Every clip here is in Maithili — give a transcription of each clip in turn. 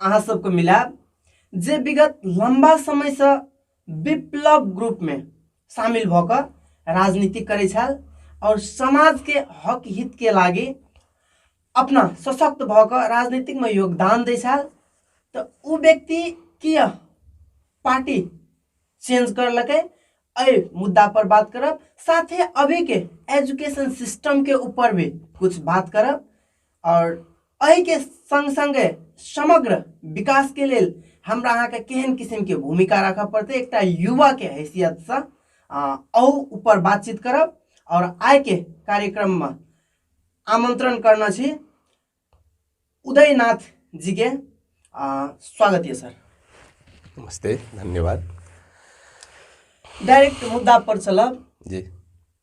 अहाँ सबके मिलाब जे विगत लंबा समय से विप्लव ग्रुप में शामिल भऽ कऽ राजनीति करै छल और समाज के हक हित के लागे अपना सशक्त भऽ कऽ राजनीतिक में योगदान दै छल तऽ ओ व्यक्ति किया पार्टी चेंज करलकै एहि मुद्दा पर बात करब साथे अभी के एजुकेशन सिस्टम के ऊपर भी कुछ बात करब आओर एहिके सङ्ग सङ्गे समग्र विकासके लेल हमरा अहाँके केहन किसिमके भूमिका राखऽ पड़तै एकटा युवाके हैसियतसँ अहू ऊपर बातचीत करब आओर आइके कार्यक्रममे आमन्त्रण करने छी उदयनाथ जीके स्वागत यऽ सर नमस्ते धन्यवाद डाइरेक्ट मुद्दा पर चलब जी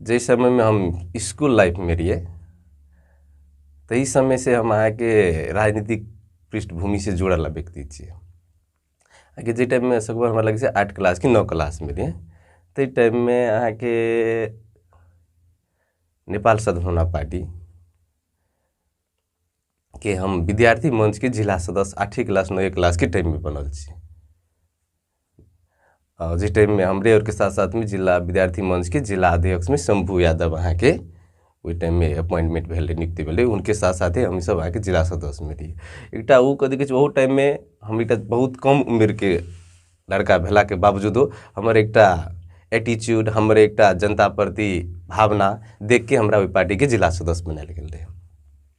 जाहि समयमे हम इसकुल लाइफमे रहिए ताहि समयसे हम अहाँके राजनीतिक पृष्ठभूमिसे जुड़ल व्यक्ति छिए अहाँके जाहि टाइममे सगभर हमरा लगै छै आठ क्लास कि नओ क्लासमे रहिए ताहि टाइममे अहाँके नेपाल सद्भावना पार्टी के हम विद्यार्थी मंचके जिला सदस्य आठे क्लास नए क्लासके टाइममे बनल छी जिस टाइम में हमरे और के साथ साथ में जिला विद्यार्थी मंच के जिला अध्यक्ष में शंभू यादव अहाँ के ओहि टाइम में अपॉइंटमेंट भेल रहे नियुक्ति भेल रहे उनके साथ साथ हम सब अहाँ के जिला सदस्य में रही एक वो कथी कहै ओहो टाइम में हम एक बहुत कम उम्र के लड़का भेला के बावजूदो हमर एक एटीट्यूड हमर एक जनता प्रति भावना देख के हमरा ओहि पार्टी के जिला सदस्य बनायल गेल रहे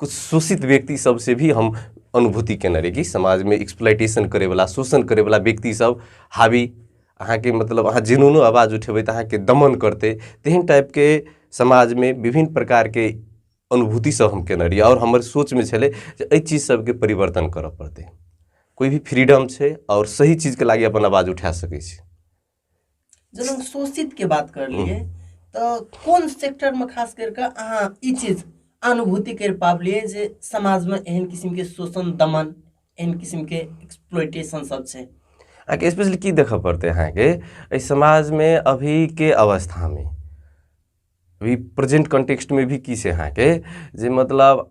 किछु शोषित व्यक्ति सबसे भी हम अनुभूति केने रही कि समाजमे एक्सप्लाइटेशन करैवला शोषण करैवला व्यक्ति सब हावी अहाँके मतलब अहाँ जेनुनो आवाज उठेबै तऽ अहाँके दमन करतै तेहन टाइपके समाजमे विभिन्न प्रकारके अनुभूति सब हम केने रही आओर हमर सोचमे छलै जे एहि चीज सबके परिवर्तन करऽ पड़तै कोइ भी फ्रीडम छै आओर सही चीजके लागि अपन आवाज उठा सकै छै जेना शोषित के बात कर लिए तो कौन सेक्टर में खास करके अहाँ ई चीज अनुभूति कर पाबलिए जे समाज में एहन किस्म के शोषण दमन एहन किस्म के एक्सप्लोइटेशन सब छै अहाँके स्पेशली की देखऽ पड़तै अहाँके एहि समाजमे अभीके अवस्थामे अभी प्रेजेंट कॉन्टेक्स्टमे भी की छै अहाँके जे मतलब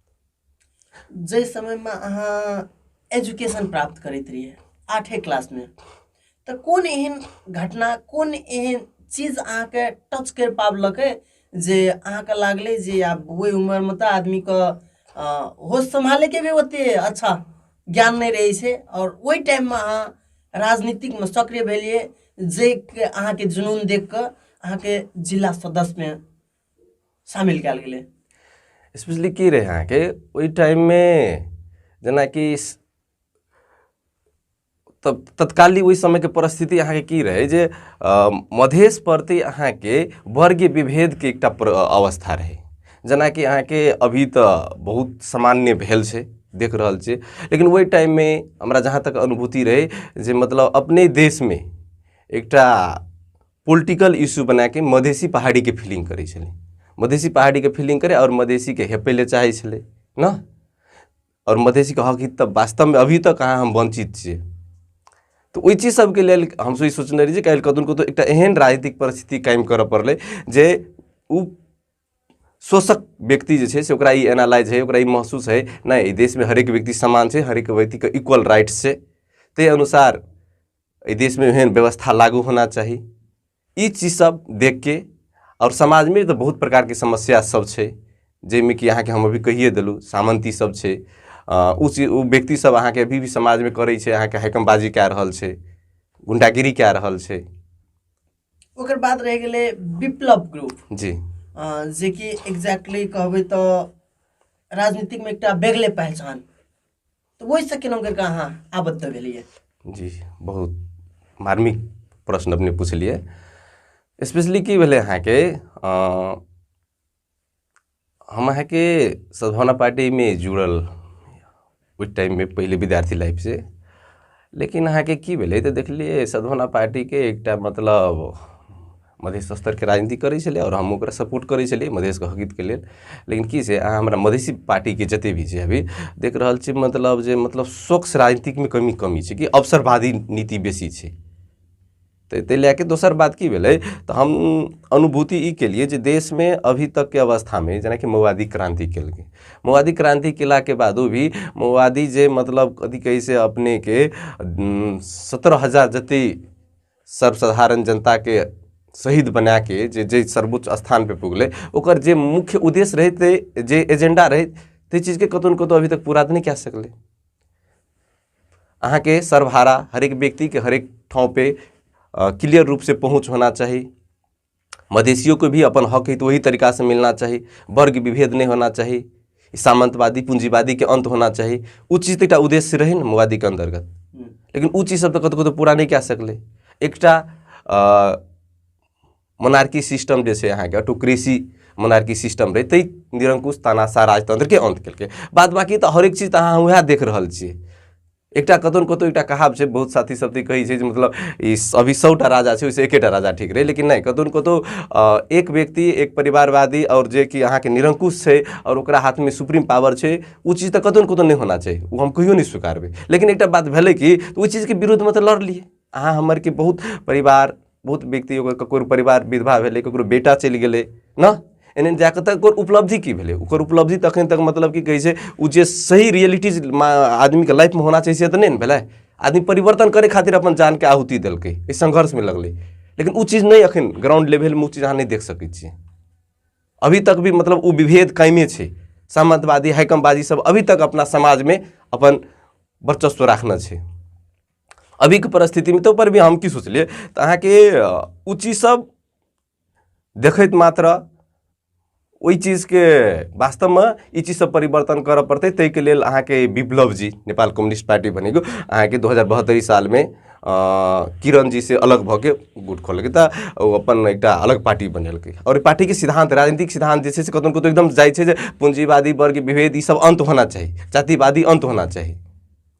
जाहि समयमे अहाँ एजुकेशन प्राप्त करैत रहियै आठे क्लासमे तऽ कोन एहन घटना कोन एहन चीज अहाँके टच करि पाबलक जे अहाँके लागलै जे आब ओहि उमरमे तऽ आदमीके होश सम्हालैके भी ओते अच्छा ज्ञान नहि रहै छै आओर ओहि टाइममे अहाँ राजनीतिकमे सक्रिय भेलियै जाहिके अहाँके जुनून देख कऽ अहाँके जिला सदस्यमे शामिल कयल गेलै स्पेशली की रहै अहाँके ओहि टाइममे जेनाकि तब तत्काली ओहि समयके परिस्थिति अहाँके की रहै जे मधेश प्रति अहाँके वर्गीय विभेदके एकटा अवस्था रहै जेनाकि अहाँके अभी तऽ बहुत सामान्य भेल छै देख रहल छियै लेकिन ओहि टाइममे हमरा जहाँ तक अनुभूति रहै जे मतलब अपने देशमे एकटा पोलिटिकल इश्यू बना के मधेसी पहाड़ी के फीलिंग करै छलै मधेसी पहाड़ी के फीलिंग करे और मधेसी के हेपे ले चाहे छलै ना और मधेसी के हक हित वास्तव में अभी तक अहाँ हम वंचित छियै तो ओहि चीज सबके लेल हम ई सोचने रही जे काल्हि कतहु कतहु एकटा एहन राजनीतिक परिस्थिति कायम करऽ पड़लै जे ओ शोषक व्यक्ति जे छै से ओकरा ई एनालाइज है ओकरा ई महसूस है नहि देशमे हरेक व्यक्ति समान छै हरेक व्यक्तिके इक्वल राइट्स छै ताहि अनुसार एहि देशमे एहन व्यवस्था लागू होना चाही ई चीज सब देख के आओर समाजमे तऽ बहुत प्रकारके समस्या सब छै जाहिमे कि अहाँके हम अभी कहिए देलहुँ सामंती सब छै अ, उ चीज उ व्यक्ति सब अहाँके अभी भी समाजमे करै छै अहाँके हैकमबाजी कए रहल छै गुंडागिरी कए रहल छै ओकर बाद रह गेलै विप्लव ग्रुप जी अ, जे कि एग्जैक्टली कहबै तऽ राजनीतिकमे एकटा बेगले पहचान तऽ ओहिसँ केना करि कऽ अहाँ आबद्ध भेलियै जी बहुत मार्मिक प्रश्न अपने पुछलियै स्पेशली की भेलै अहाँके हम अहाँके सद्भावना पार्टीमे जुड़ल ओहि टाइममे पहिले विद्यार्थी लाइफसँ लेकिन अहाँके की भेलै तऽ देखलियै सदभना पार्टीके एकटा मतलब मधेश स्तरके राजनीति करै छलै आओर हम ओकरा सपोर्ट करै छलियै मधेशके हकितके लेल लेकिन की छै अहाँ हमरा मधेशी पार्टीके जते भी छै अभी देख रहल छी मतलब जे मतलब स्वच्छ राजनीतिकमे कमी कमी छै कि अवसरवादी नीति बेसी छै तऽ ताहि लए के दोसर बात की भेलै तऽ हम अनुभूति ई केलियै जे देशमे अभी तकके अवस्थामे जेनाकि मौवादी क्रान्ति केलकै मौवादी क्रान्ति केलाके बादो भी मौवादी जे मतलब कथी कहै से अपनेके सत्रह हजार जते सर्वसाधारण जनताके शहीद बनाके जे जे सर्वोच्च स्थानपर पुगलै ओकर जे मुख्य उद्देश्य रहै जे एजेंडा रहै ताहि चीजके कतहु ने कतहु अभी तक पूरा तऽ नहि कए सकलै अहाँके सरभारा हरेक व्यक्तिके हरेक ठाउँपर क्लियर रूपसँ पहुँच होना चाही मधेसियोके भी अपन हक हइ तऽ ओही तरीकासँ मिलना चाही वर्ग विभेद नहि होना चाही सामन्तवादी पूँजीवादीके अन्त होना चाही ओ चीज तऽ एकटा उद्देश्य रहै ने मोवादीके अन्तर्गत लेकिन ओ चीज सब तऽ कतहु कतहु पूरा नहि कए सकलै एकटा मोनार्की सिस्टम जे छै अहाँके ऑटोक्रेसी मोनार्की सिस्टम रहै ताहि निरंकुश तानाशाह राजतंत्रके अन्त केलकै बाद बाकी तऽ हरेक चीज तऽ अहाँ उएह देख रहल छियै एकटा कतौ ने कतौ एकटा कहाब छै बहुत साथी सब तऽ कहै छै जे मतलब ई अभी सौटा राजा छै ओहिसँ एकेटा राजा ठीक रहै लेकिन नहि कतौ ने कतौ एक व्यक्ति एक परिवारवादी आओर जे कि अहाँके निरंकुश छै आओर ओकरा हाथमे सुप्रीम पावर छै ओ चीज तऽ कतौ ने कतौ नहि होना चाही ओ हम कहियो नहि स्वीकारबै लेकिन एकटा बात भेलै कि ओ चीजके विरुद्धमे तऽ लड़लियै अहाँ हमर कि बहुत परिवार बहुत व्यक्ति ओकर ककरो परिवार विधवा भेलै ककरो बेटा चलि गेलै ने एने जाकऽ तऽ ओकर उपलब्धि की भेलै ओकर उपलब्धि तऽ अखन तक मतलब की कहै छै ओ जे सही रियलिटीज आदमीके लाइफमे होना चाही से तऽ नहि ने भेलै आदमी परिवर्तन करै खातिर अपन जानके आहुति देलकै एहि संघर्षमे लगलै लेकिन ओ चीज नहि अखन ग्राउंड लेवलमे ओ चीज अहाँ नहि देख सकै छियै अभी तक भी मतलब ओ विभेद कायमे छै सामंतवादी हैकमबाजी सब अभी तक अपना समाजमे अपन वर्चस्व राखने छै अभीके परिस्थितिमे तऽ पर भी हम की सोचलियै तऽ अहाँके ओ चीजसभ देखैत मात्र ओहि चीजके वास्तवमे ई चीजसँ परिवर्तन करऽ पड़तै ताहिके लेल अहाँके विप्लव जी नेपाल कम्युनिस्ट पार्टी भनेको अहाँके दू हजार बहत्तरि सालमे किरण जी से अलग भऽ के गुट खोलकै तऽ ओ अपन एकटा अलग पार्टी बनेलकै आओर पार्टीके सिद्धान्त राजनीतिक सिद्धान्त जे छै से कतहु कतहु एकदम जाइ छै जे पूँजीवादी वर्ग विभेद ईसभ अन्त होना चाही जातिवादी अन्त होना चाही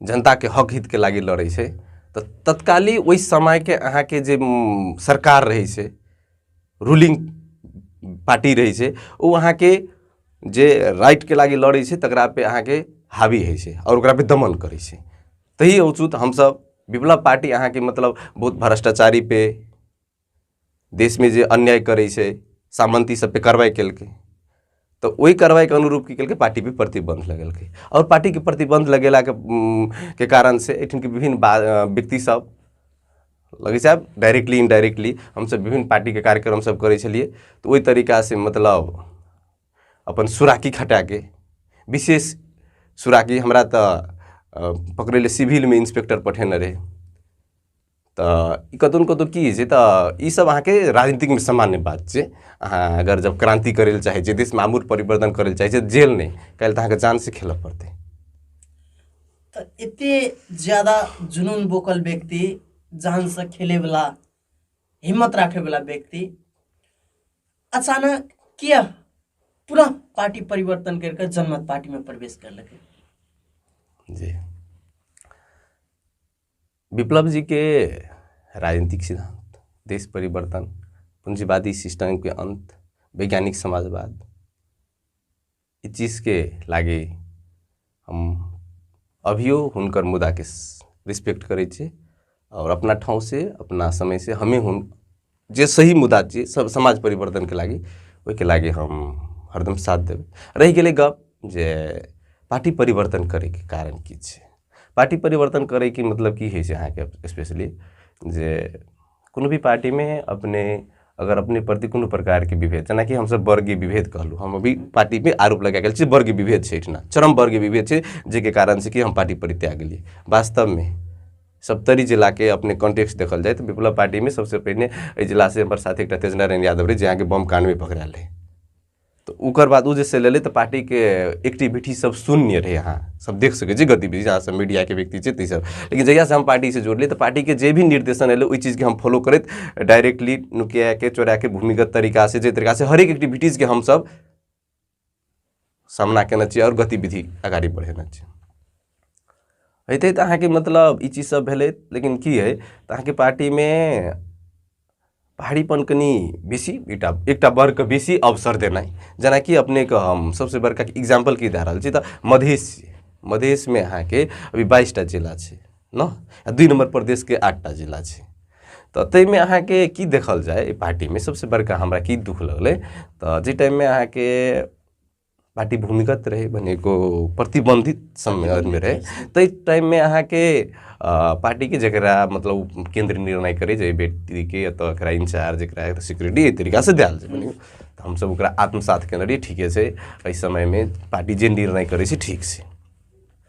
जनताके हक हितके लागि लड़ै छै तऽ तत्काली ओहि समयके अहाँके जे सरकार रहै छै रूलिंग पार्टी रहै छै ओ अहाँके जे राइटके लागि लड़ै छै तकरापर अहाँके हावी होइ छै आओर ओकरापर दमन करै छै तही अवचूत हमसभ विप्लव पार्टी अहाँके मतलब बहुत भ्रष्टाचारीपर देशमे जे अन्याय करै छै सामन्ती सभपर कार्रवाइ केलकै तऽ ओहि कार्रवाइके अनुरूप की केलकै पार्टीपर प्रतिबन्ध लगेलकै आओर पार्टीके प्रतिबन्ध लगेलाके के कारणसँ एहिठामके विभिन्न व्यक्तिसभ लगै छै आब डायरेक्टली इनडायरेक्टली हमसभ विभिन्न पार्टीके कार्यक्रमसभ करै छलिए तऽ ओहि तरीकासँ मतलब अपन सुराकी खटाके विशेष सुराकी हमरा तऽ पकड़ै लए सिविलमे इन्स्पेक्टर पठेने रहै तऽ ई कतहु ने कतहु की होइ छै तऽ ईसब अहाँके राजनीतिकमे सामान्य बात छै अहाँ अगर जब क्रान्ति करै लए चाहै छियै देशमे आमूल परिवर्तन करै लए चाहै छियै जेल नहि काल्हि तऽ अहाँके जानसँ खेलऽ पड़तै तऽ एते ज्यादा जुनून बोकल व्यक्ति जानसँ खेलैवला हिम्मत राखैवला व्यक्ति अचानक किया पुनः पार्टी परिवर्तन करिके जनमत पार्टीमे प्रवेश करलकै जी विप्लव जी के राजनीतिक सिद्धांत देश परिवर्तन पूंजीवादी सिस्टम के अंत वैज्ञानिक समाजवाद इस चीज के लागे हम अभियो हुनकर मुदा के रिस्पेक्ट करे छे और अपना ठाव से अपना समय से हमें हुन जे सही मुद्दा छियै सब समाज परिवर्तनके लागि ओहिके लागि हम हरदम साथ देब रहि गेलै गप जे पार्टी परिवर्तन करैके कारण की छै पार्टी परिवर्तन करैके मतलब की होइ छै अहाँके स्पेशली जे कोनो भी पार्टीमे अपने अगर अपने प्रति कोनो प्रकारके विभेद जेनाकि हमसब वर्गीय विभेद कहलहुँ हम अभी पार्टीमे आरोप लगा गेल छी वर्गीय विभेद छै एहिठिना चरम वर्गीय विभेद छै जाहिके कारण से कि हम पार्टी परित्याग गेलियै वास्तवमे सप्तरी जिला के अपने कॉन्टेक्स्ट देखल जाए तो विप्लव पार्टी में सबसे पहले एहि जिला से हमारे साथ एक तेजना रैन यादव रहे जहाँ के बम कांड में पकड़ाल रहे तो उकर बाद उ जैसे लेले तो पार्टी के एक्टिविटी सब शून्य रहे यहाँ सब देख सके जी गतिविधि जहाँ सब मीडिया के व्यक्ति छै ती सब लेकिन जहिया से हम पार्टी से जोड़ले तो पार्टी के जे भी निर्देशन एले ओहि चीज के हम फॉलो करत डायरेक्टली नुकिया के चोरा के भूमिगत तरीका से जे तरीका से हरेक एक्टिविटीज के हम सब सामना केना चाहिए और गतिविधि अगाड़ी बढ़ेना चाहिए हेतै तऽ अहाँके मतलब ई चीज सब भेलै लेकिन की है तऽ अहाँके पार्टीमे भारीपन कनि बेसी एकटा एकटा वर्गके बेसी अवसर देनाइ जेनाकि अपनेके हम सबसे बड़का एग्जाम्पल की दए रहल छी तऽ मधेश मधेशमे अहाँके अभी बाइसटा जिला छै ने आ दुइ नम्बर प्रदेशके आठटा जिला छै तऽ ताहिमे अहाँके की देखल जाय एहि पार्टीमे सभसँ बड़का हमरा की दुख लगलै तऽ जाहि टाइममे अहाँके पार्टी भूमिगत रहै भने एगो प्रतिबन्धित सम्मेलनमे रहै ताहि टाइममे अहाँके पार्टीके जकरा मतलब केन्द्र निर्णय करै जे व्यक्तिके एतऽ एकरा इंचार्ज एकरा एतऽ सिक्योरिटी एहि तरीकासँ देल जाय भने तऽ हमसभ ओकरा आत्मसात केने रहियै ठीके छै एहि समयमे पार्टी जे निर्णय करै छै ठीक छै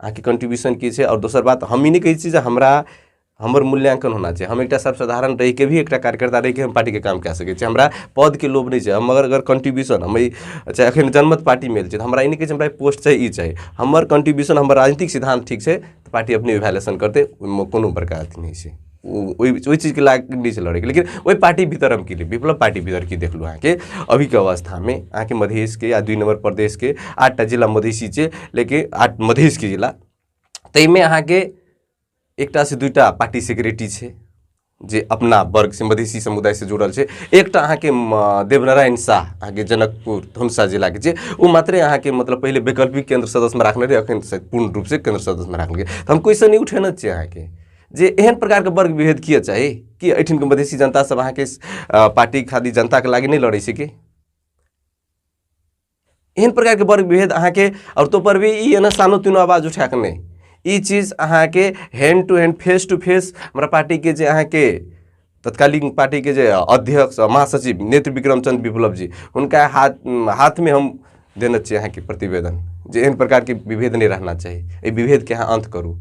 अहाँके कन्ट्रीब्यूशन की छै आओर दोसर बात हम ई नहि कहै छी जे हमरा हमर मूल्यांकन होना छै हम एकटा सब साधारण रहिके भी एकटा कार्यकर्ता रहिके हम पार्टीके काम कए सकै छी हमरा पदके लोभ नहि छै हम अगर अगर कन्ट्रीब्यूशन हम चाहे एखन जनमत पार्टीमे छै तऽ हमरा ई नहि कहै छै हमरा पोस्ट चाही ई चाही हमर कन्ट्रीब्यूशन हमर राजनीतिक सिद्धान्त ठीक छै तऽ पार्टी अपने वैल्यूएशन करतै ओहिमे कोनो बड़का अथी नहि छै ओहि ओहि चीजके लए कऽ नहि छलहुँ रहैके लेकिन ओहि पार्टी भीतर हम की विप्लव पार्टी भीतर की देखलहुँ अहाँके अभीके अवस्थामे अहाँके मधेशके या दुइ नम्बर प्रदेशके आठटा जिला मधेशी छै लेकिन आठ मधेशके जिला ताहिमे अहाँके एकटासँ दूटा पार्टी सेक्रेटरी छै जे अपना वर्ग से मधेसी समुदाय से जुड़ल छै एकटा अहाँके देवनारायण शाह अहाँके जनकपुर धमसा जिलाके छै ओ मात्रे अहाँके मतलब पहिले वैकल्पिक केन्द्र सदस्यमे राखने रहै अखन पूर्ण रूपसँ केन्द्र सदस्यमे राखल गेल तऽ हम क्वेश्चन ई उठेने छियै अहाँके जे एहन प्रकारके वर्ग विभेद किए चाही कि एहिठिनके मधेसी जनता सब अहाँके पार्टी खाली जनताके लागि नहि लड़ै छै कि एहन प्रकारके वर्ग विभेद अहाँके और तो पर भी ई एना सानो तीनो आवाज उठा के नहि ई चीज अहाँके hand to hand face to face हमारा पार्टी के जे अहाँके तत्कालीन पार्टी के जे अध्यक्ष महासचिव नेत्र विक्रमचंद विप्लव जी उनका हाथ हाथ में हम देना चाहिए अहाँके प्रतिवेदन जे एहन प्रकारके विभेद नहि रहना चाही एहि विभेदके अहाँ अन्त करू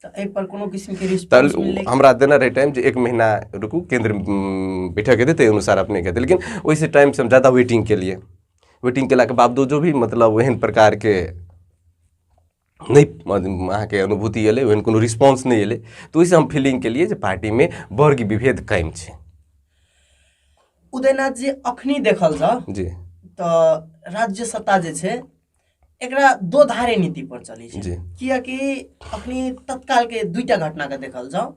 तऽ एहि पर कोनो किस्म के तहन रिस्पांस ओ मिललै हमरा देने रहै टाइम जे एक महीना रुकू केंद्र उम, बैठक हेतै ताहि अनुसार अपने कहतै लेकिन ओहिसँ टाइमसँ हम ज़्यादा वेटिंग केलिए वेटिंग केलाके बावजूदो भी मतलब ओहन प्रकारके नहि म- अहाँके अनुभूति एलै ओहन कोनो रिस्पॉन्स नहि एलै तऽ ओहिसँ हम फीलिंग केलिए जे पार्टीमे वर्ग विभेद कायम छै उदयनाथ जी अखनी देखल जाओ जी तऽ राज्य सत्ता जे छै एकरा दो धारे नीति पर चलै छै जी कियाकि अखनी तत्काल के दुईटा घटना के देखल जाओ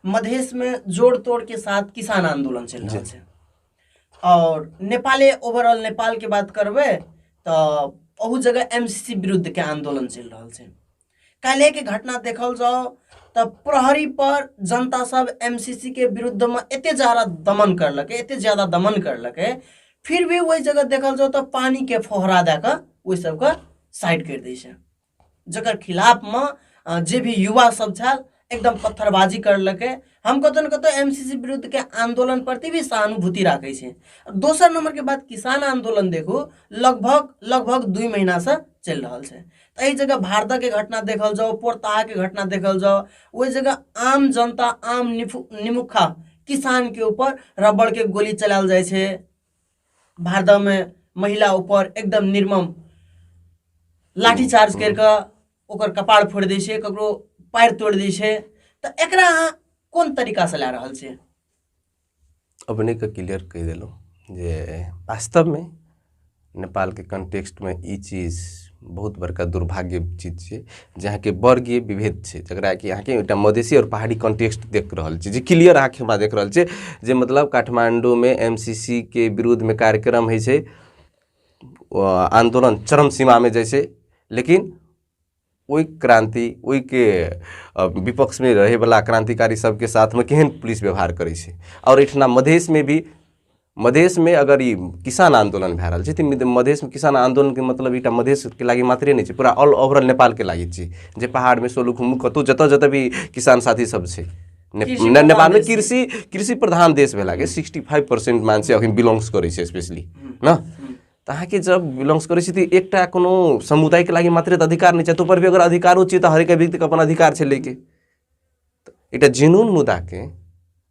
मधेश में जोड़ तोड़ के साथ किसान आंदोलन चल रहा जी। है और नेपाले ओवरऑल नेपाल के बात करबे तो ओहू जगह एमसीसी विरुद्ध के आंदोलन चल रहा है काल्हिके घटना देखल जाओ तऽ प्रहरी पर जनता सब एमसीसी के विरुद्ध में एते ज्यादा दमन करलक एते ज्यादा दमन करलक फिर भी वही जगह देखल जाओ तो पानी के फोहरा दे कऽ ओहि सबके साइड कर दै छै जकर खिलाफ में जे भी युवा सब छल एकदम पत्थरबाजी करलकै हम कतहु ने कतहु एम सी सी विरुद्धके आन्दोलन प्रति भी सहानुभूति राखै छै दोसर नम्बरके बात किसान आन्दोलन देखू लगभग लगभग दुई महिनासँ चलि रहल छै तऽ एहि जगह भारतके घटना देखल जाओ पोरताहाके घटना देखल जाओ ओहि जगह आम जनता आम निफु निमुखा किसानके ऊपर रबड़के गोली चलायल जाइ छै भारतमे महिला ऊपर एकदम निर्मम लाठीचार्ज करि कऽ ओकर कपार फोड़ि दै छै ककरो पैर तोड़ि दै छै तऽ एकरा अहाँ कोन तरीकासँ लए रहल छियै अपनेके क्लियर कहि देलहुँ जे वास्तवमे नेपालके कन्टेक्स्टमे ई चीज बहुत बड़का दुर्भाग्य चीज छै जे अहाँके वर्गीय विभेद छै जकरा कि अहाँके एकटा मधेसी आओर पहाड़ी कॉन्टेक्स्ट देख रहल छै जे क्लियर अहाँके हमरा देख रहल छै जे मतलब काठमाण्डूमे एम सी सी के विरोधमे कार्यक्रम होइ छै आन्दोलन चरम सीमामे जाइ छै लेकिन ओहि क्रान्ति ओहिके विपक्षमे रहैवला क्रान्तिकारी सभके साथमे केहन पुलिस व्यवहार करै छै आओर एहिठिना मधेशमे भी मधेशमे अगर ई किसान आन्दोलन भए रहल छै तऽ मधेशमे किसान आन्दोलनके मतलब एकटा मधेशके लागि मात्रे नहि छै पूरा ऑल ओवरऑल नेपालके लागि छै जे पहाड़मे सोलुखुम्बु कतहु जतय जतय भी किसान साथीसभ छै ने- कृषि ने- प्रधान नेपाल में देश छी। कृषि कृषि प्रधान देश भेला के सिक्सटी फाइव परसेंट मानसे अखन बिलोंग्स करै छै स्पेशली न तऽ अहाँके जब बिलोंग्स करै छी तऽ एकटा कोनो समुदायके लागि मात्रे तऽ अधिकार नहि छै तोपर भी अगर अधिकारो छै तऽ हरेक व्यक्तिके अपन अधिकार छै लैके तऽ एकटा जेनून मुद्दाके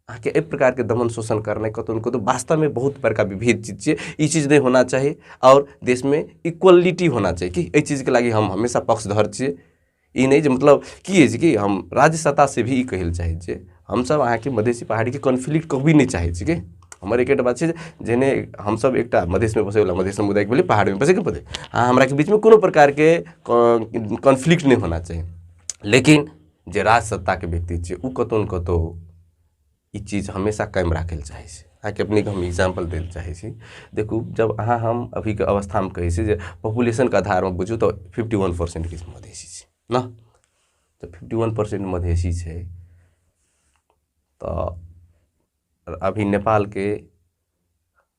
अहाँके एहि प्रकारके दमन शोषण करनाइ कतहु ने कतहु वास्तवमे बहुत बड़का विभेद चीज छियै ई चीज नहि होना चाही आओर देशमे इक्वलिटी होना चाही कि एहि चीजके लागि हम हमेशा पक्षधर छियै ई नहि जे मतलब की अछि कि हम राज्य सत्ता से भी ई कहै लए चाहै छियै हमसब अहाँके मधेसी पहाड़ीके कॉन्फ्लिक्ट कभी नहि चाहै छी की हमर एकेटा बात छै जे जेहने हमसब एकटा मधेशमे बसै बला मधेश समुदायके भेलै पहाड़मे बसैके पड़तै अहाँ हमराके बीचमे कोनो प्रकारके कॉन्फ्लिक्ट नहि होना चाही लेकिन जे राज सत्ताके व्यक्ति छियै ओ कतौ ने कतौ ई चीज हमेशा कायम राखै लए चाहै छै अहाँके अपनेके हम एग्जाम्पल दै लए चाहै छी देखू जब अहाँ हम अभीके अवस्थामे कहै छी जे पॉपुलेशनके आधारमे बुझू तऽ फिफ्टी वन परसेंट किछु मधेसी छै ने तऽ फिफ्टी वन परसेंट मधेसी छै तऽ अभी नेपालके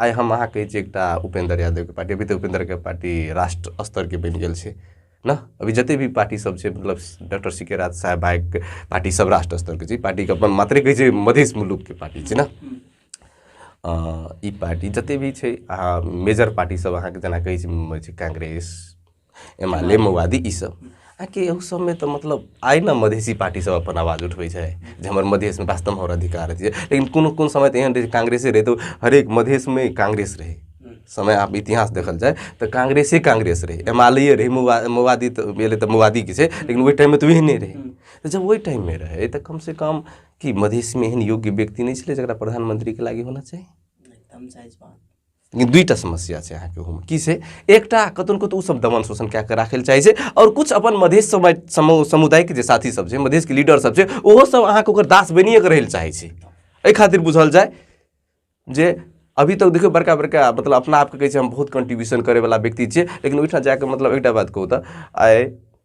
आइ हम अहाँ कहै छी एकटा उपेन्द्र यादवके पार्टी अभी तऽ उपेन्द्रके पार्टी राष्ट्र स्तरके बनि गेल छै ने अभी जतेक भी पार्टी सब छै मतलब डॉक्टर सी के राज साहेब भाइके पार्टी सब राष्ट्र स्तरके छै पार्टीके अपन मात्रे कहै छै मधेश मुलुकके पार्टी छै ने ई पार्टी जतेक भी छै अहाँ मेजर पार्टी सब अहाँके जेना कहै छै कांग्रेस एमा ले मवादी ई सब आ कि एहू सबमे तऽ मतलब आइ ने मधेसी पार्टी सब अपन आवाज उठबै छै जे हमर मधेसमे वास्तवमे हमर अधिकार अछि लेकिन कोनो कोनो समय तऽ एहन रहै छै कांग्रेसे रहै तऽ हरेक मधेसमे कांग्रेस रहै समय आब इतिहास देखल जाय तऽ कांग्रेसे कांग्रेस रहै एम आल ए रहै मवा मवादी तऽ भेलै तऽ मवादी की छै लेकिन ओहि टाइममे तऽ ओहने रहै तऽ जब ओहि टाइममे रहै तऽ कमसँ कम कि मधेसमे एहन योग्य व्यक्ति नहि छलै जकरा प्रधानमंत्रीके लागी होना चाही लेकिन दुईटा समस्या छै अहाँके ओहूमे की छै एकटा कतहु कतहु ओसभ दमन शोषण कए कऽ राखय लए चाहै छै आओर किछु अपन मधेश समुदायके जे साथीसभ छै मधेशके लीडरसभ छै ओहोसभ अहाँके ओकर दास बनिए कऽ रहय लए चाहै छै एहि खातिर बुझल जाय जे अभी तक देखियौ बड़का बड़का मतलब अपना आपके कहै छै हम बहुत कन्ट्रीब्यूशन करयवला व्यक्ति छियै लेकिन ओहिठाम जा कऽ मतलब एकटा बात कहू तऽ आइ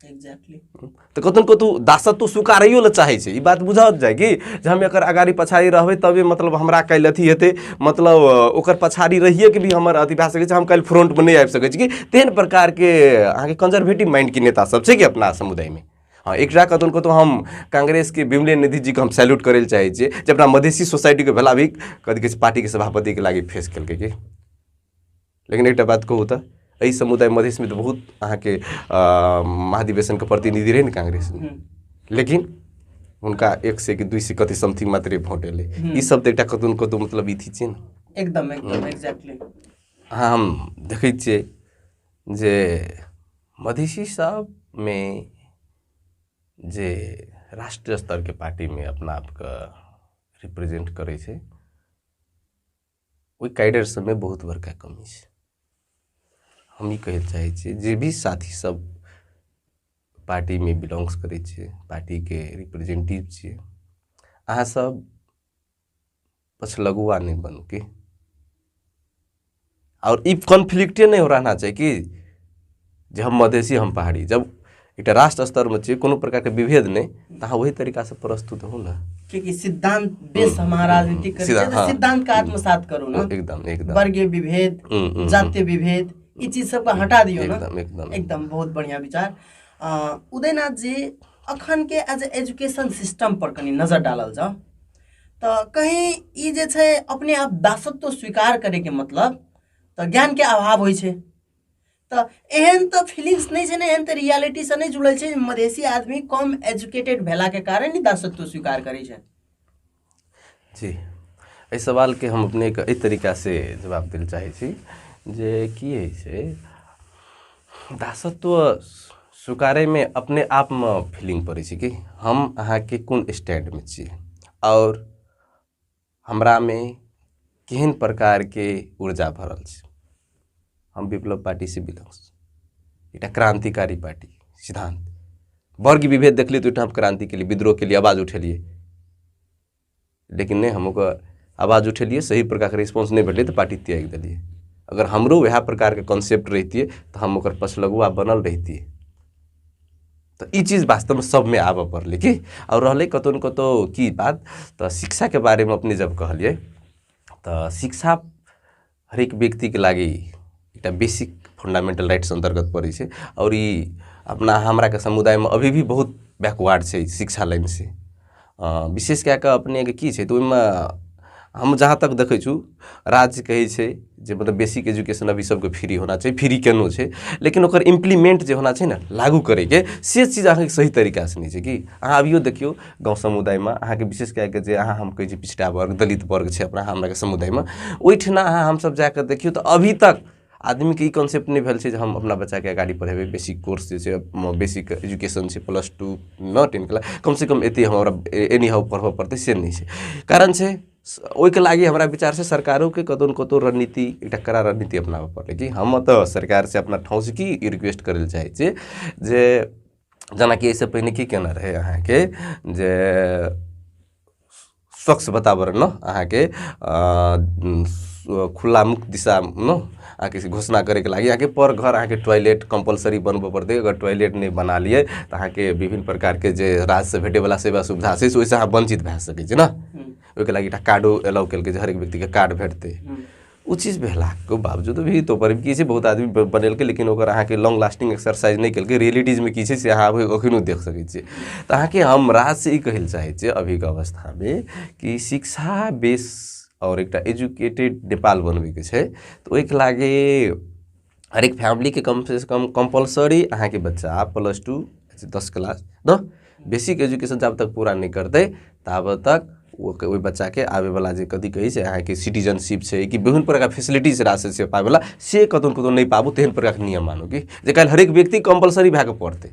तऽ कतहु कतहु दासत्व स्वीकारैयो लए चाहै छै ई बात बुझल जाय कि जे हम एकर अगाड़ी पछाड़ी रहबै तबे मतलब हमरा काल्हि अथी हेतै मतलब ओकर पछाड़ी रहिए के भी हमर अथी भए सकै छै हम काल्हि फ्रंटमे नहि आबि सकै छी कि तेहन प्रकारके अहाँके कंजर्वेटिव माइंडके नेता सब छै कि अपना समुदायमे हँ एक कतहु कतहु हम काङ्ग्रेसके विमले निधिजीके हम सैल्यूट करै लए चाहै छियै जे अपना मधेसी सोसाइटीके भेला भी कथी कहै छै पार्टीके सभापतिके लागि फेस केलकै कि लेकिन एकटा बात कहू तऽ एहि समुदाय मधेशमे तऽ बहुत अहाँके अ, महाधिवेशनके प्रतिनिधि रहै ने काङ्ग्रेस लेकिन हुनका एक से कि दुई से कति समथिंग मात्रे भोट एलै ई सब तऽ एकटा कतहु ने कतहु मतलब ई थी छै ने एकदम एकदम एक्ज्याक्टली अहाँ हम देखै छियै जे मधेसी सबमे जे राष्ट्रिय स्तरके पार्टीमे अपना आपके रिप्रेजेंट करै छै ओहि कैडर सबमे बहुत बड़का कमी छै हम ई कहै लए चाहै छी जे भी साथी सब पार्टीमे बिलोंग्स करै छै पार्टीके रिप्रेजेंटेटिव छियै अहाँ सब पछलगुआ नहि बनू की आओर ई कॉन्फ्लिक्टे नहि हो रहना चाही कि जे हम मधेसी हम पहाड़ी जब एकटा राष्ट्र स्तर में छै कोनो प्रकार के विभेद नहीं तो अहाँ वही तरीका से प्रस्तुत हो ना क्योंकि सिद्धांत बेस हम्म, हमारा हम्म, राजनीति हम्म, सिद्धांत, हाँ। सिद्धांत का आत्मसात करो ना एकदम एकदम वर्गीय विभेद हम्म, हम्म, जातीय विभेद ये चीज सबका हटा दियो ना एकदम एकदम एकदम बहुत बढ़िया विचार अ, उदयनाथ जी अखन के एज एजुकेशन सिस्टम पर कनी नजर डालल जाओ तो कहीं ई जे छै अपने आप दासत्व स्वीकार करे के मतलब तो ज्ञान के अभाव होइ छै तऽ एहन तऽ फिलिंग्स नहि छै ने एहन तऽ रियालिटीसँ नहि जुड़ल छै जे मधेसी आदमी कम एजुकेटेड भेलाके कारण ही दासत्व स्वीकार करै छै जी एहि सवालके हम अपनेके एहि तरीकासँ जवाब दै लए चाहै छी जे की होइ छै दासत्व स्वीकारैमे अपने आपमे फीलिंग पड़ै छै कि हम अहाँके कोन स्टैंडमे छी आओर हमरामे केहन प्रकारके ऊर्जा भरल छै हम विप्लव पार्टीसँ बिलोंग्स एकटा क्रान्तिकारी पार्टी सिद्धान्त वर्ग विभेद देखलियै तऽ ओहिठाम क्रान्ति केलियै विद्रोह केलियै आवाज उठेलियै लेकिन नहि हम ओकर आवाज उठेलियै सही प्रकारके रिस्पॉन्स नहि भेटलै तऽ पार्टी त्याग देलियै अगर हमरो उएह प्रकारके कॉन्सेप्ट रहितियै तऽ हम ओकर पछलगुआ बनल रहितियै तो ई चीज़ वास्तव में सब में आबऽ पड़ल कि और रहल कतौ न कतौ की बात तो शिक्षा के बारे में अपने जब कहलिए तो शिक्षा हरेक व्यक्ति के लागी एक बेसिक फंडामेंटल राइट्स अंतर्गत पड़े से और अपना हमारा के समुदाय में अभी भी बहुत बैकवर्ड से शिक्षा लाइन से विशेष कए कऽ अपनेके की छै तऽ ओहिमे हम जहाँ तक देखै छी राज्य कहै छै जे मतलब बेसिक एजुकेशन अभी सबके फ्री होना चाही फ्री केनो छै लेकिन ओकर इम्प्लीमेंट जे होना छै ने लागू करैके से चीज अहाँके सही तरीकासँ नहि छै कि अहाँ अभियो देखियौ गाँव समुदायमे अहाँके विशेष कए कऽ जे अहाँ हम कहै छी पिछड़ा वर्ग दलित वर्ग छै अपना हमराके समुदायमे ओहिठिना अहाँ हमसभ जा कऽ देखियौ तऽ अभी तक आदमीके ई कॉन्सेप्ट नहि भेल छै जे हम अपना बच्चाके अगाड़ी पढ़ेबै बेसी कोर्स जे छै बेसी एजुकेशन छै प्लस टू नओ टेन क्लास कमसँ कम एतेक हमरा एनी हाउ पढ़बऽ पड़तै से नहि छै कारण छै ओहिके लागि हमरा विचारसँ सरकारोके कतहु ने कतहु रणनीति एकटा कड़ा रणनीति अपनाबऽ पड़तै कि हम तऽ सरकारसँ अपना ठाउँसँ की रिक्वेस्ट करै लए चाहै छी जे जेनाकि एहिसँ पहिने की केना रहै अहाँके जे स्वच्छ वातावरण अहाँके खुल्ला मुक्त दिशा अहाँके घोषणा करैके लागि अहाँके पर घर अहाँके टॉयलेट कम्पलसरी बनबऽ पड़तै अगर टॉयलेट नहि बना लियै तऽ अहाँके विभिन्न प्रकारके जे राज्यसँ भेटैवला सेवा सुविधा छै से ओहिसँ अहाँ वञ्चित भए सकै छी ने ओहिके लागि एकटा कार्डो एलाउ केलकै जे हरेक व्यक्तिकेँ कार्ड भेटतै ओ चीज भेलाके बावजूदो भी तो पर की छै बहुत आदमी बनेलकै लेकिन ओकर अहाँके लॉन्ग लास्टिंग एक्सरसाइज नहि केलकै रियलिटीजमे की छै से अहाँ एखनो देख सकै छियै तऽ अहाँके हम राजसँ ई कहै लए चाहै छियै अभीके अवस्थामे कि शिक्षा बेस आओर एकटा एजुकेटेड नेपाल बनबैके छै तऽ ओहिके लागे हर एक फैमिली के कम से कम कंपलसरी अहाँ के बच्चा आप प्लस टू दस क्लास न बेसिक एजुकेशन जब तक पूरा नहीं करते तब तक वो ओहि बच्चा के आवे वाला जे कथी कही से अहाँ के सिटीजनशिप से कि विभिन्न प्रकार फैसिलिटी से राशि से पावे वाला से कतौ कतौ नहीं पाबू तेहन प्रकार के नियम मानू कि जे कल हर एक व्यक्ति कंपलसरी भए के पढ़ते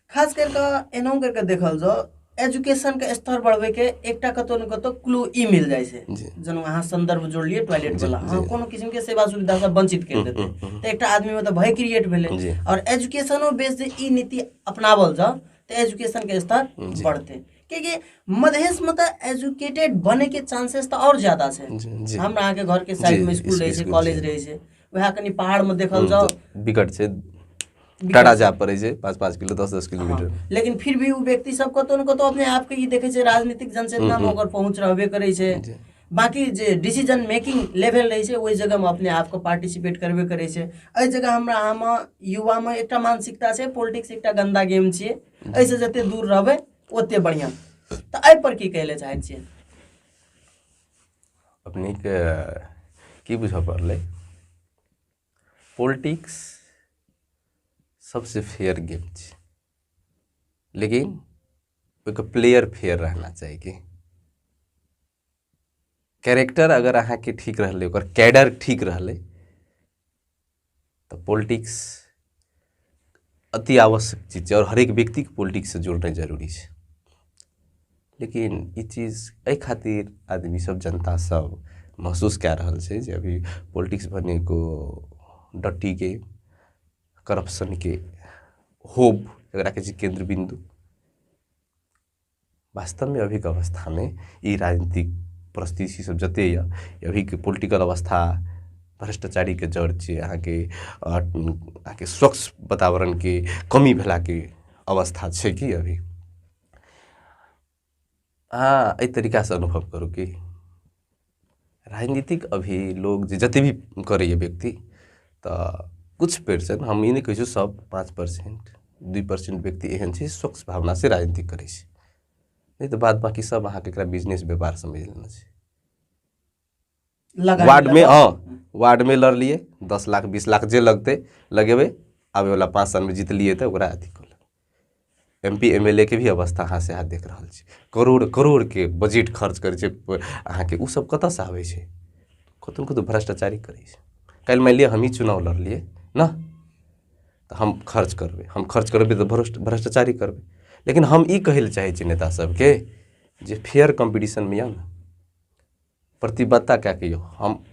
खास करि कऽ एनाहु करि कऽ देखल जाउ एजुकेशनके स्तर बढ़बैके एकटा कतौ ने कतौ क्लू ई मिल जाइ छै जी। जेना अहाँ संदर्भ जोड़लियै टॉयलेट जी, वाला जी। अहाँ कोनो किसिम के सेवा सुविधा से वंचित कर देतै हम्म, हम्म। तऽ एकटा आदमी में तऽ भय क्रिएट जी। भेलै और एजुकेशनो बेस जे ई नीति अपनावल जाओ तऽ एजुकेशन के स्तर जी। बढ़तै कियाकि मधेश में तऽ एजुकेटेड बने के चांसेस तऽ और ज्यादा छै जी, जी। हमरा अहाँके घर के साइड जी, में स्कूल रहै छै स्कूल, कॉलेज जी। रहै छै वएह कनि पहाड़ में देखल जाओ बिकट छै टाटा जाय पड़ै छै पाँच पाँच किलो दस दस किलोमीटर हँ। लेकिन फिर भी ओ व्यक्ति सब कतौ ने कतौ अपने आप के ई देखे छै राजनीतिक जनचेतना में ओकर पहुंच रहबे करे छै जी। बाकी जे डिसीजन मेकिंग लेवल रहे छै ओहि जगह में अपने आप के पार्टिसिपेट करबे करे छै एहि जगह हमरा अहाँ में युवा में एकटा मानसिकता छै पॉलिटिक्स एकटा गंदा गेम छियै एहि से जते दूर रहबै ओते बढ़िया तऽ एहि पर की कहले चाहै छियै अपने के की बुझऽ पड़लै पॉलिटिक्स सबसे फेयर गेम छै लेकिन ओहिके प्लेयर फेयर रहना चाही कि कैरेक्टर अगर अहाँके ठीक रहलै ओकर कैडर ठीक रहलै तऽ पॉलिटिक्स अति आवश्यक चीज छै आओर हरेक व्यक्तिके पॉलिटिक्ससँ जोड़नाइ जरूरी छै लेकिन ई चीज एहि खातिर आदमीसभ जनतासभ महसूस कए रहल छै जे अभी पॉलिटिक्स भने एगो डर्टीके करप्शनके होब जकरा कहै छै केन्द्र बिन्दु वास्तवमे अभीके अवस्थामे ई राजनीतिक परिस्थिति सब जते यऽ अभीके पोलिटिकल अवस्था भ्रष्टाचारीके जड़ छियै अहाँके अहाँके स्वच्छ वातावरणके कमी भेलाके अवस्था छै कि अभी अहाँ एहि तरीकासँ अनुभव करू कि राजनीतिक अभी लोग जे जते भी करैए व्यक्ति तऽ कुछ परसेंट हम ई नहि कहै छी सब पाँच परसेंट दुइ परसेंट व्यक्ति एहन छै स्वच्छ भावना से राजनीति करै छै नहि तऽ बाद बाकी सब अहाँके एकरा बिजनेस व्यापार समझ लेने छै लगा वार्ड में हाँ वार्ड में लड़ लिए दस लाख बीस लाख जे लगते लगेबै आबे वाला पाँच साल में जीतलिए तऽ ओकरा अथी कऽ लेबै M P M L A के भी अवस्था अहाँ सएह देखि रहल छी करोड़ करोड़के बजट खर्च करै छै अहाँके ओसब कतऽसँ आबै छै कतहु ने कतहु भ्रष्टाचारी करै छै काल्हि मानि लिअऽ हमही चुनाव लड़लिए ने तऽ हम खर्च करबै हम खर्च करबै तऽ भ्रष्ट भ्रष्टाचारी करबै लेकिन हम ई कहैलए चाहै छी नेता सबके जे फेयर कम्पीटिशनमे आउ ने प्रतिबद्धता कऽ कऽ आउ हम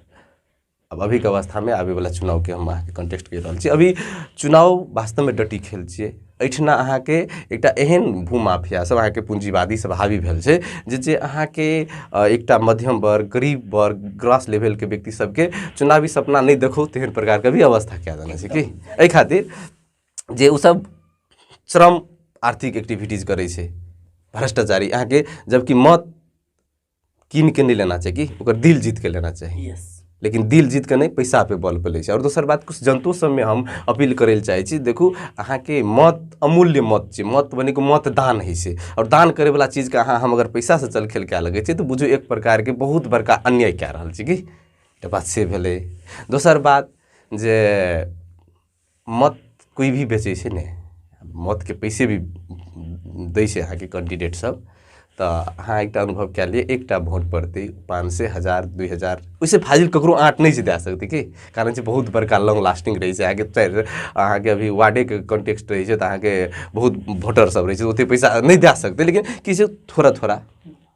अब अभी के अवस्था में आवे वाला चुनाव के हम अहाँ के कंटेस्ट कर रहल छी अभी चुनाव वास्तव में डटी खेल छियै एहिठिना अहाँ के एकटा एहन भूमाफिया सब अहाँ के पूंजीवादी सब हावी भेल छै जे जे अहाँ के अ, एकटा मध्यम वर्ग गरीब वर्ग ग्रास लेवल के व्यक्ति सब के चुनावी सपना नहीं देखो तेहन प्रकार के भी अवस्था कए देने छै की एहि खातिर जे ओ सब श्रम आर्थिक एक्टिविटीज करै छै भ्रष्टाचारी अहाँके जबकि मत कीन के नहीं लेना चाहिए कि ओकर दिल जीत के लेना चाहिए यस लेकिन दिल जीत के नहीं पैसा पे बल पे लै छै आओर दोसर बात कुछ जनतो सबमे हम अपील करै लए चाहै छी देखू अहाँके मत अमूल्य मत छै मत बनेको मत दान होइ छै आओर दान करैवला चीजके अहाँ हम अगर पैसासँ चल खेल कए लगै छै तऽ बुझू एक प्रकारके बहुत बड़का अन्याय कए रहल छी की एकटा बात से भेलै दोसर बात जे मत कोइ भी बेचै छै ने मतके पइसे भी दै छै अहाँके कैण्डिडेटसभ तऽ अहाँ एकटा अनुभव कए लिअ एकटा भोट पड़तै पाँच सए हजार दुइ हजार ओहिसँ फाजिल ककरो अहाँ नहि जिता सकतै कि कारण छै बहुत बड़का लॉन्ग लास्टिंग रहै छै अहाँके चारि अहाँके अभी वार्डेके कॉन्टेक्स्ट रहै छै तऽ अहाँके बहुत भोटरसभ रहै छै ओतेक पैसा नहि दए सकतै लेकिन किछु थोड़ा थोड़ा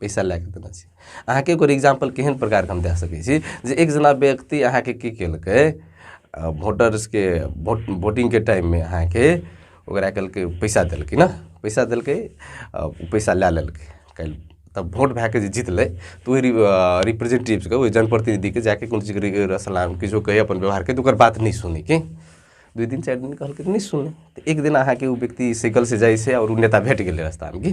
पैसा लए कऽ देने छी अहाँके एगो एग्जाम्पल केहन प्रकारके हम दए सकै छी जे एक जेना व्यक्ति अहाँके की केलकै वोटर्सके वोट वोटिंगके टाइममे अहाँके ओकरा कहलकै पैसा देलकै ने पैसा देलकै ओ पैसा लए लेलकै काल्हि तब वोट भए कऽ जे जीतलै तऽ ओहि रिप्रेजेंटेटिव्सके ओहि जनप्रतिनिधिके जाके कोनो चीज सलाम किछो कहै अपन व्यवहार कहै तऽ ओकर बात नहि सुनै कि दुइ दिन चारि दिन कहलकै तऽ नहि सुनै तऽ एक दिन अहाँके ओ व्यक्ति साइकिलसँ जाइ छै आओर ओ नेता भेट गेलै रस्तामे कि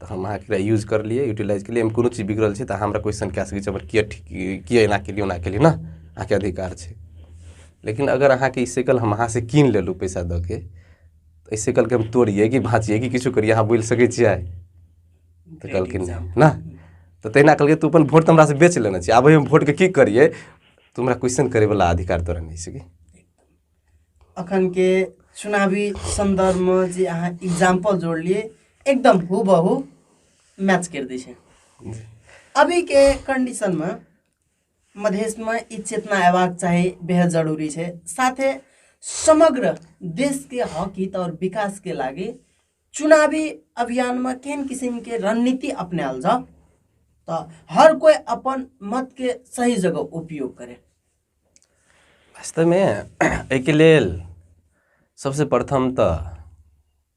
तऽ हम अहाँके एकरा यूज करलिए यूटिलाइज केलिए एहिमे कोनो चीज बिगड़ल छै तऽ अहाँ हमरा क्वेश्चन कऽ सकै छी हमर किएक ठीक किएक एना केलिए ओना केलिए ने अहाँके अधिकार छै लेकिन अगर अहाँके ई साइकिल हम अहाँसँ कीनि लेलहुँ पइसा दऽ के तऽ एहि साइकिलके हम तोड़िए कि भाँचिए कि किछु करिए अहाँ बोलि सकै छिए तऽ कहलखिन ने तऽ तहिना कहलकै तू अपन वोट तऽ हमरासँ बेच लेने छी आब हम वोटके की करिए तू हमरा क्वेश्चन करैवला अधिकार तोरा नहि छै कि अखन के चुनावी संदर्भ में जे अहाँ एग्जाम्पल जोड़लिए एकदम हु बहु मैच कर दी है अभी के कंडीशन में मधेश में ई चेतना अयबाक चाही बेहद जरूरी है साथे समग्र देश के हक हित और विकास के लागे चुनावी अभियान में केन किस्म के रणनीति अपनाल जाओ तो हर कोई अपन मत के सही जगह उपयोग करे वास्तवमे एहिके लेल सबसे प्रथम तऽ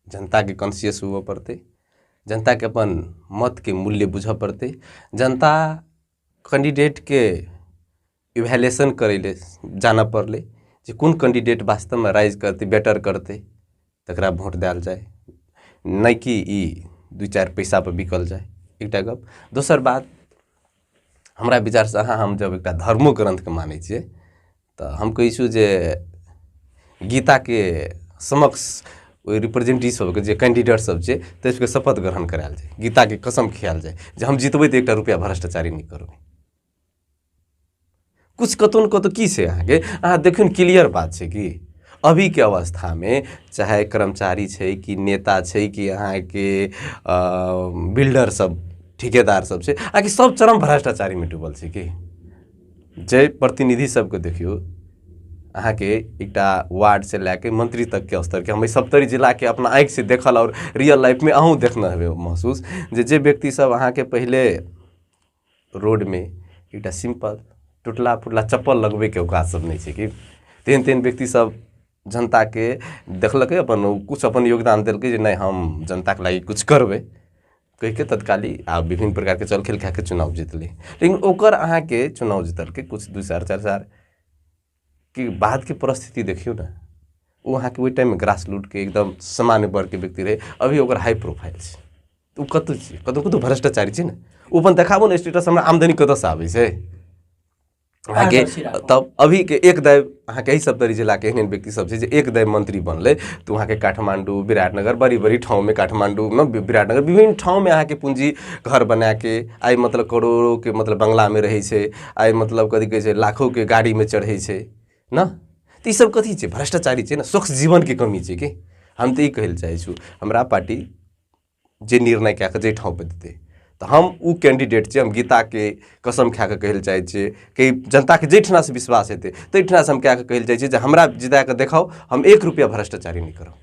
जनताके कॉन्सियस हुअ पड़तै जनताके अपन मतके मूल्य बुझऽ पड़तै जनता कैंडिडेटके इवेलुएशन करै लए जानऽ पड़लै जे कोन कैंडिडेट वास्तवमे राइज करतै बेटर करतै तकरा भोट देल जाय नहि कि ई दू चारि पैसा पर बिकल जाय एकटा गप दोसर बात हमरा विचारसँ अहाँ हम जब एकटा धर्मो ग्रन्थके मानै छियै तऽ हम कहै छी जे गीताके समक्ष ओहि रिप्रेजेंटेटिव सबके जे कैंडिडेट सब छै ताहि सबके शपथ ग्रहण करायल जाय गीताके कसम खियाल जाय जे हम जीतबै तऽ एकटा रुपैआ भ्रष्टाचारी नहि करबै कुछ कतौ ने कतौ की छै अहाँके अहाँ देखियौ ने क्लियर बात छै कि अभीके अवस्थामे चाहे कर्मचारी छै कि नेता छै कि अहाँके बिल्डर सब ठिकेदार सब छै अहाँके सब चरम भ्रष्टाचारीमे डूबल छै कि जे प्रतिनिधि सबके देखियौ अहाँके एकटा वार्ड से लए के मंत्री तक के स्तर के हम सप्तरी जिला के अपना आँखि से देखल और रियल लाइफ में अहूँ देखने हेबे महसूस जे जे व्यक्ति सब अहाँके पहले रोडमे एकटा सिम्पल टुटला फुटला चप्पल लगबैके ओकात सब नहि छै कि तेहन तेहन व्यक्ति सब जनताके देखलकै अपन ओ किछु अपन योगदान देलकै जे नहि हम जनताके लागी किछु करबै कहिके तत्काली आ विभिन्न प्रकारके चल खेल कए कऽ चुनाव जीतलै लेकिन ओकर अहाँके चुनाव जीतलकै किछु दू साल चारि साल कि बाद के परिस्थिति देखियो ना उ अहाँ के ओहि टाइम में ग्रास लूट के एकदम सामान्य वर्ग के व्यक्ति रहे अभी ओकर हाई प्रोफाइल छै तऽ ओ कतौ छै कतौ कतौ भ्रष्टाचारी छै ने ओ अपन देखाबो ने स्टेटस हमरा आमदनी कतऽ से आबै छै अहाँके पारदर्शी राखब। तब अभी के एक दाय अहाँके एहि सप्तरी जिला के एहन एहन व्यक्ति सब छै जे एक दाय मंत्री बनले तऽ अहाँके काठमांडू विराटनगर बड़ी बड़ी ठाव में काठमांडू में वि- विराटनगर विभिन्न ठाव में अहाँके पूंजी घर बना के आइ मतलब करोड़ों के मतलब बंगला में रहै छै आइ मतलब कथी कहै छै लाखोके गाड़ीमे चढ़ै छै ने तऽ ईसब कथी छै भ्रष्टाचारी छै ने स्वच्छ जीवनके कमी छै कि हम तऽ ई कहै लए चाहै छी हमरा पार्टी जे निर्णय कए कऽ जाहि ठाँवपर देतै तऽ हम ओ कैंडिडेट छियै हम गीताके कसम खाए कऽ कहै लए चाहै छियै कि जनताके जाहिठामसँ विश्वास हेतै ताहिठामसँ हम कए कऽ कहै लए चाहै छियै जे हमरा जिता कऽ देखाउ हम एक रुपैआ भ्रष्टाचारी नहि करब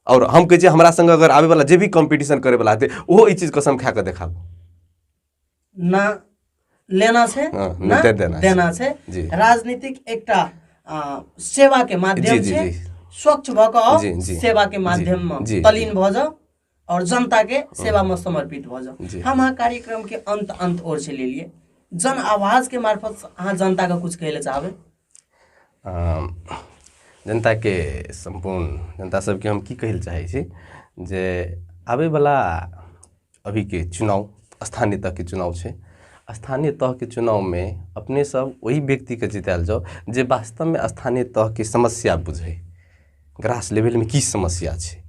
और हम कहे हमरा संग अगर आवे वाला जे भी कंपटीशन करे वाला हते ओहो ई चीज कसम खा के देखाबो ना लेना छै हाँ, ना ना दे देना छै। देना छै जी। राजनीतिक एकटा आ, सेवा के माध्यम जी, जी, छै जी। स्वच्छ भऽ कऽ आउ, जी, जी। सेवा के माध्यम जी, मे जी। तलीन भऽ जाउ और जनता के सेवा में समर्पित भऽ जाउ जी। हम अहाँ कार्यक्रम के अंत अंत ओर से ले लिए जन आवाज के मार्फत अहाँ जनता के कुछ कहले चाहबे जनताके सम्पूर्ण जनता सभकेँ हम की कहय लेल चाहै छी जे आबयवला अभीके चुनाव स्थानीय तहके चुनाव छै स्थानीय तहके चुनावमे अपनेसभ ओहि व्यक्तिकेँ जितायल जाउ जे वास्तवमे स्थानीय तहके समस्या बुझय ग्रास लेवलमे की समस्या छै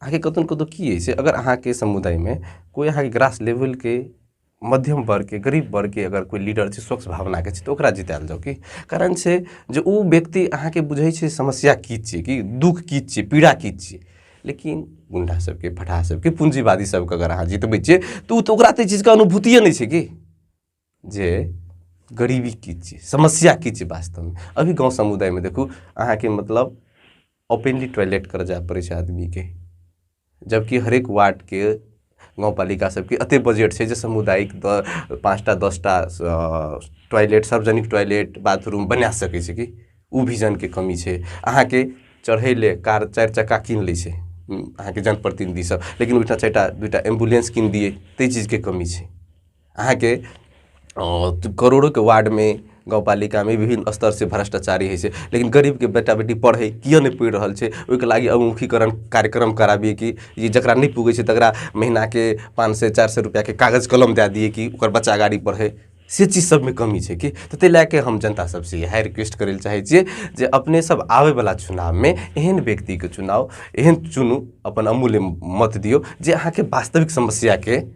अहाँके कतहु ने कतहु की अछि अगर अहाँके समुदायमे कोइ अहाँके ग्रास लेवलके मध्यम वर्गके गरीब वर्गके अगर कोइ लीडर छै स्वच्छ भावनाके छै तऽ ओकरा जितायल जाउ की कारण छै जे ओ व्यक्ति अहाँके बुझै छै समस्या की छियै कि दुःख की छियै पीड़ा की छियै लेकिन गुंडा सबके फटाह सबके पूंजीवादी सबके अगर अहाँ जितबै छियै तऽ ओ तऽ ओकरा तऽ चीजके अनुभूतिए नहि छै कि जे गरीबी की छियै समस्या की छियै वास्तवमे अभी गाँव समुदायमे देखू अहाँके मतलब ओपनली टॉयलेट करऽ जाय पड़ै छै आदमीके जबकि हरेक वार्डके गाउँपालिका सबके एतेक बजट छै जे सामुदायिक दऽ पाँचटा दसटा टॉयलेट सार्वजनिक टॉयलेट बाथरूम बना सकै छै कि ओ विजनके कमी छै अहाँके चढ़ैलए कार चारि चक्का कीनि लै छै अहाँके जनप्रतिनिधिसभ लेकिन ओहिठाम चारिटा दुइ टा एम्बुलेन्स कीनि दिए ताहि चीजके कमी छै अहाँके करोड़ोके वार्डमे गाउँपालिकामे विभिन्न स्तरसँ भ्रष्टाचारी होइ छै लेकिन गरीबके बेटा बेटी पढ़ै किएक नहि पढ़ि रहल छै ओइके लागि अवमुखीकरण कार्यक्रम कराबियै कि जे जकरा नहि पुगै छै तकरा महीनाके पाँच सए चारि सए रुपैआके कागज कलम दए दियै कि ओकर बच्चा गाड़ी पढ़ै से चीज सबमे कमी छै कि तऽ ताहि लए कऽ हम जनता सबसँ इएह रिक्वेस्ट करै लए चाहै छियै जे अपने सब आबैवला चुनावमे एहन व्यक्तिके चुनाव एहन चुनू अपन अमूल्य मत दियौ जे अहाँके वास्तविक समस्याके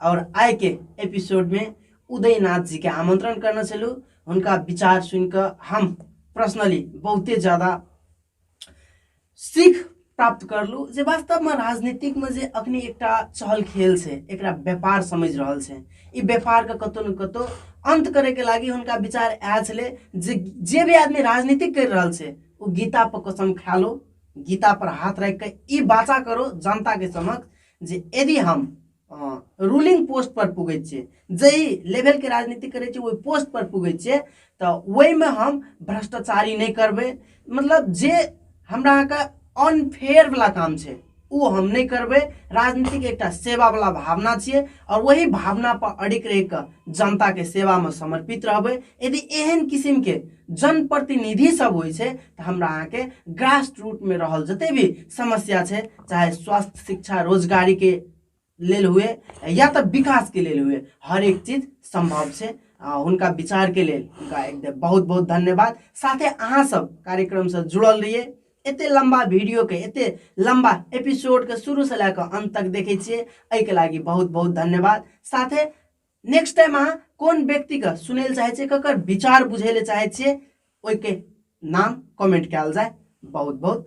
और आय के एपिसोड में उदयनाथ जी के आमंत्रण करने छलू हुनका विचार सुन के हम पर्सनली बहुते ज्यादा सीख प्राप्त करलू जे वास्तव में राजनीतिक में जे अखनी एक चहल खेल से एक व्यापार समझ रहा है ये व्यापार के कतो न कतो अंत करे के लागी हुनका विचार आया छे जे जे भी आदमी राजनीतिक कर रहा है वो गीता पर कसम खा लो गीता पर हाथ रख के बाचा करो जनता के समक्ष जे यदि हम रूलिंग पोस्ट पर पुगै छियै जाहि लेवलके राजनीति करै छियै ओहि पोस्ट पर पुगै छियै तऽ ओहिमे हम भ्रष्टाचारी नहि करबै मतलब जे हमरा अहाँके अनफेयर वला काम छै ओ हम नहि करबै राजनीतिक एकटा सेवा वला भावना छियै आओर वही भावना पर अडिग रहि कऽ जनताके सेवामे समर्पित रहबै यदि एहन किसिमके जनप्रतिनिधि सब होइ छै तऽ हमरा अहाँके ग्रास रूटमे रहल जतेक भी समस्या छै चाहे स्वास्थ्य शिक्षा रोजगारीके लेल हुए या तऽ विकासके लेल हुए हरेक चीज सम्भव छै आ हुनका विचारके लेल हुनका एकदम बहुत बहुत धन्यवाद साथे अहाँसभ कार्यक्रमसँ जुड़ल रहियै एते लम्बा भिडियोके एते लम्बा एपिसोडके शुरूसँ लए कऽ अन्त तक देखै छियै एहिके लागि बहुत बहुत धन्यवाद साथे नेक्स्ट टाइम अहाँ कोन व्यक्तिके सुनै लए चाहै छियै ककर विचार बुझै लए चाहै छियै ओहिके नाम कमेंट कयल जाय बहुत बहुत